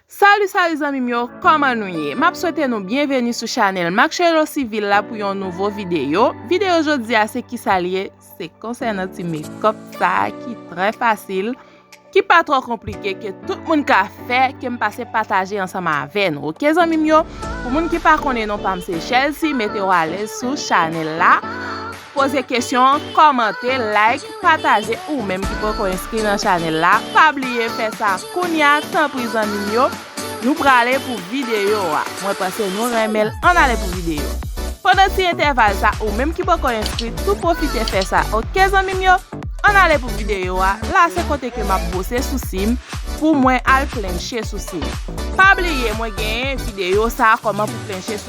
Salut salut zanmim yo kòman nou ye map swete nou byenveni sou chanèl Marcello civil la pou yon nouvo videyo videyo jodia se kisa li ye se konsènan ti mekòp sa ki trè fasil ki pa trò konplike ke tout moun ka fè kem pase pataje ansanm avè nou ok zanmim yo pou moun ki pa konnen non pam se chèlsi mete w alèz sou chanèl la. Poze kesyon, kòmante, like, pataje ou menm ki poko enskri nan chanèl la pa bliye fè sa kounya tanpri zanmim yo nou prale pou videyo a mwen panse nou renmenl ann ale pou videyo pandan ti entèval sa ou menm ki poko enskri tou pwofite fè sa ok zanmim yo ann ale pou videyo a la se kote ke map bwose sousim pou mwen al flenche sousim pa bliye mwen genyen videyo sa kòman pou flenche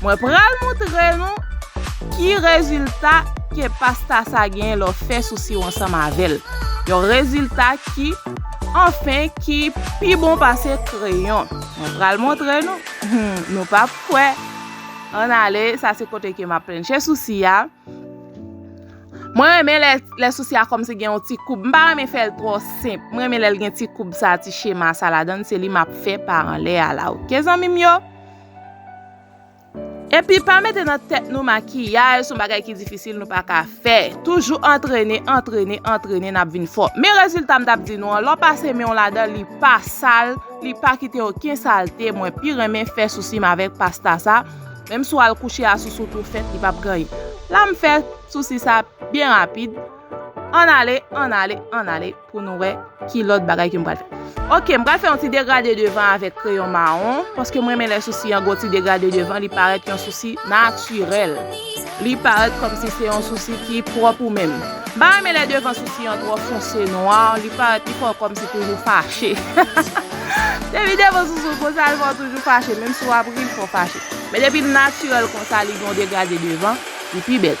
Mwen pral moutre nou ki rezilta ke pasta sa genyen lè w fè sou siwo ansanm avè l. Yon rezilta ki, anfen, ki pi bon pase kreyon. Mwen pral moutre nou. Humm, nou pa p kwè. An ale, sa se kote ke m ap plenche sousi a. Mwen renmen lè sousi a kòmsi gen yon ti koub. M pa renmen fè l twò senp. Mwen renmen lè l gen ti koub sa, ti chema sa ladan l. Se li m ap fè pa anlè a la. Ok zanmi m yo? Epi pa mete nan tèt nou makiyaj son bagay ki difisil nou pa ka fè. Toujou antrene, antrene, antrene nap vin fò. Men rezilta m tap di nou an, lè w pase men w ladan li pa sal, li pa kite oken salte, mwen pi renmen fè sousi m avèk pasta sa, menm si w al kouche a sousou tou fèt li pap gen anyen. La m fè sousi sa byen rapid, annale, annale, annale. Pou nou wè ki lòt bagay ke m pral fè. Ok, m pral fè yon ti degrade devan avèk kreyon mawon, paske m renmen lè sousi an gen yon ti degrade devan, li parèt yon sousi natirèl. Li parèt kòmsi se yon sousi ki pwòp ou menm. M pa renmen lè devan sousi an twò fonse, nwa, li parèt li fè w kòmsi toujou fache. Depi devan sousi w konsa, li fè w toujou fache, menm si w ap ri, li fè w fache. Men depi l natirèl konsa, li gen yon degrade devan, li pi bèl.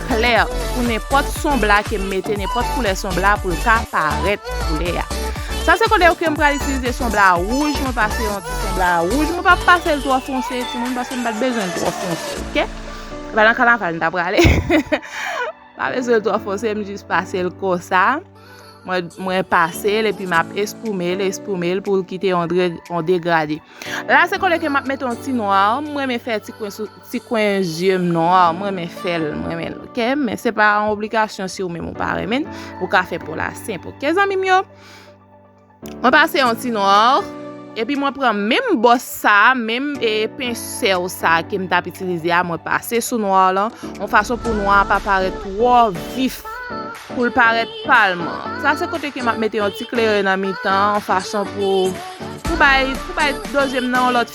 klè pou nenpòt son bla ke m mete, nenpòt koulè son bla pou l ka parèt koulè a. Sa se koulè ke m pral itilize son bla wouj, mwen pase yon ti son bla wouj, mwen pa pase l twò fonse timoun paske m pa t bezwen l twò fonse ok. Se pa nan kanaval m ta prale, m pa bezwen l twò fonse m jis pase l konsa. Mwen pase l epi map espoume l, espoume l pou l kite yon degrade. La se kole ke map mete yon ti nwa, mwen renmen fè ti kwen zye m nwa, mwen renmen fè l, mwen renmen l ok. Men se pa yon obligasyon si ou menm ou pa renmen, ou ka fè pou la senp ok zanmi m yo. Mwen pase yon ti noir. Epi mwen pran menm bòs sa, menm e pensèl sa ke m tap itilize a, mwen pase sou nwa lan, yon fason pou nwa a pa parèt twò vif, pou l parèt palm. Sa se kote ke m ap mete yon ti kleren nan mitan, yon fason pou bay, pou bay doze m nan yon lòt.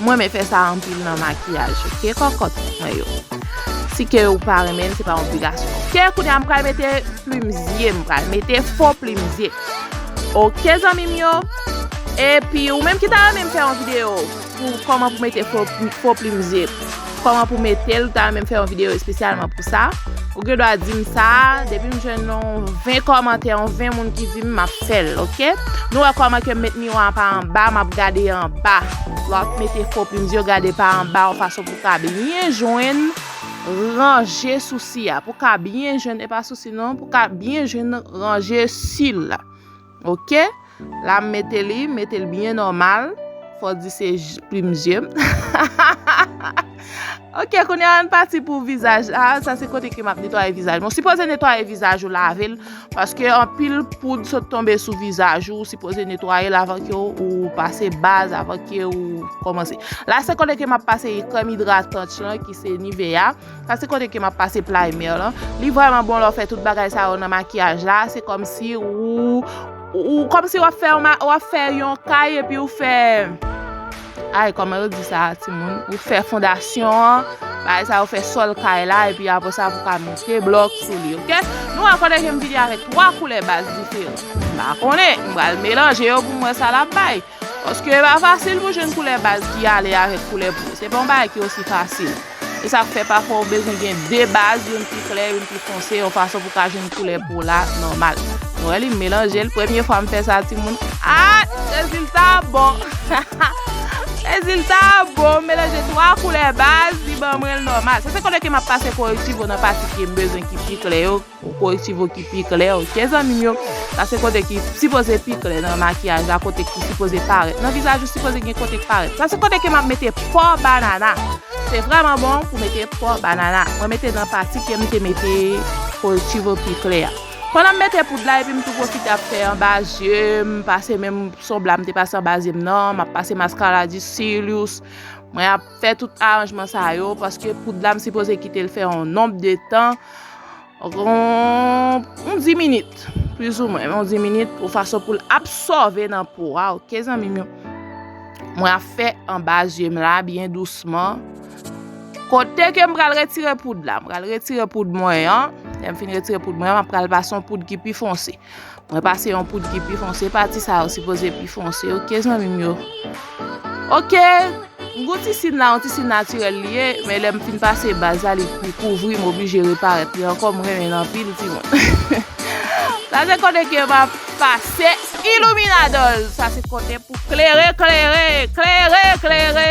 M renmen fè sa anpil nan makiyaj ok kòkòt mwen yo. Si ke ou pa renmen l se pa yon obligasyon ok kounye a m pral mete plim zye m pral mete fo plim zye ok zanmi m yo epi ou menm ki ta renmen m fè yon video pou kòman pou mete fo plim zye. Kòman pou metel ou ta menm fè yon video espesyalman pou sa Ou gen dwa dim sa Depi m jwenn yon 20 kòmantè yon 20 moun ki dim map fèl ok Nou wè kòman ke m met miwa pa anba map gade anba Lò ap mete fo plim yo gade pa anba yon fason pou ka byen jwenn ranje sousi a Pou ka byen jwenn epa sousi non Pou ka byen jwenn ranje sil la. Ok la m mete li mete l byen nòmal fò w di se plim zye m ok kounye a an pati pou vizaj la sa se kote ke m ap netwaye vizaj mwen sipoze netwaye vizaj ou lave l paske anpil poud sot tonbe sou vizaj ou sipoze netwaye l avan ke ou pase baz avan ke ou kòmanse la se kote ke m ap pase krèm idratant lan ki se Nivea. Sa se kote ke map pase playmer lan. Li vreman bon lè w fè tout bagay sa yo nan makiyaj la. Se komsi ou komsi wap fè wap fè yon kay epi ou fè ay koman yo di sa ti moun ou fè fondasyon an bagay sa yo fè sol kay la epi apre sa pou ka monte blok sou li ok. Nou wè kote ke m vini avèk 3 koulè baz diferan. M pa konnen. M pral melanje yo pou m wè sa lap bay. Paske e pa fasil pou jwenn koulè baz ki ale avèk koulè po. Se pa yon bagay ki osi fasil. Se sa k fè pafwa ou bezwen gen 2 baz, youn pi klè, youn pi fonse, yon fason pou ka jwenn koulè po la nòmal. Nou wè li, m melanje l. Premye fwa m fè sa timoun. Ah! Rezilta a bon! Rezilta a bon! M melanje 3 koulè baz, li ban mwen l nòmal. Sa se kote ke m ap pase korektiv yo nan pati ke m bezwen ki pi klè yo. Pou korektiv ou ki pi klè ok zanmim yo. Sa se kote ki sipoze pi klè nan makiyaj la kote ki sipoze parèt nan vizaj ou sipoze gen kote k parèt. Sa se kote ke map mete pò banana. Se vrèman bon pou mete pò banana. Mwen mete nan pati kem te mete korektiv ou pi klè a. Pandanm mete poud la epim tou pwofite ap fè anba zyeum pase menm son bla mte pase anba zyem nan map pase maskara di cilious mwen ap Fè tout aranjman sa yo paske poud la m sipoze kite l fè yon nonb de tan yon 10 minit plis ou mwen yon 10 minit pou fason pou l absòve nan po a ok zanmim yo mwen ap fè anba zye m la byen dousman kote ke m pral retire poud la m pral retire poud mwen an lè m fin retire poud mwen an m ap pral pase yon poud ki pi fonse. Mwen pase yon poud ki pi fonse. Pati sa yo sipoze pi fonse. Ok zanmi m yo. Ok. M gou ti sin la. Yon ti sin natirel li ye. Men lem fin pase baz la li pi kouvri. M oblije reparet li anko. M renmen l anpil ti moun. Sa se kote ke m ap pase iluminadol. Sa se kote pou klere klere. Klere klere.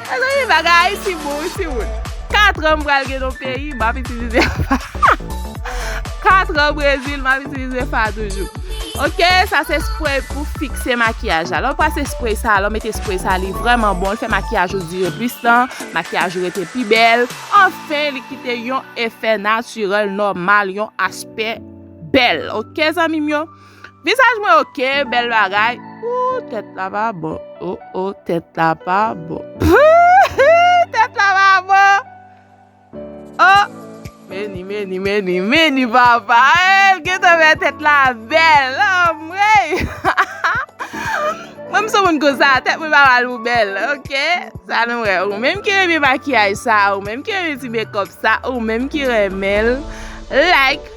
Mezanmi bagay Ayiti bon wi timoun. Katran m pral gen non peyi m ap itilize fa. Katran Brezil m ap itilize fa toujou. Ok sa se spray pou fikse makiyaj la. Lè w pase spray sa, lè w mete spray sa li vrèman bon. Li fè makiyaj ou dire plis tan, makiyaj ou rete pi bèl. Anfen li kite yon efè natirèl nòmal, yon aspè bèl. Ok zanmi m yo. Visaj mwen ok bel bagay. Ooh tet la pa bon. Oh oh tet la pa bon. Hii tet la pa bon. Oh meni meni meni meni papa eh l gentan fè tet la bel anmweyy. Mwen m son moun konsa tet mwen pa mal mwen bel ok sa nou wè ou menm ki renmen makiyaj sa ou menm ki renmen ti mekòp sa ou menm ki renmen l like.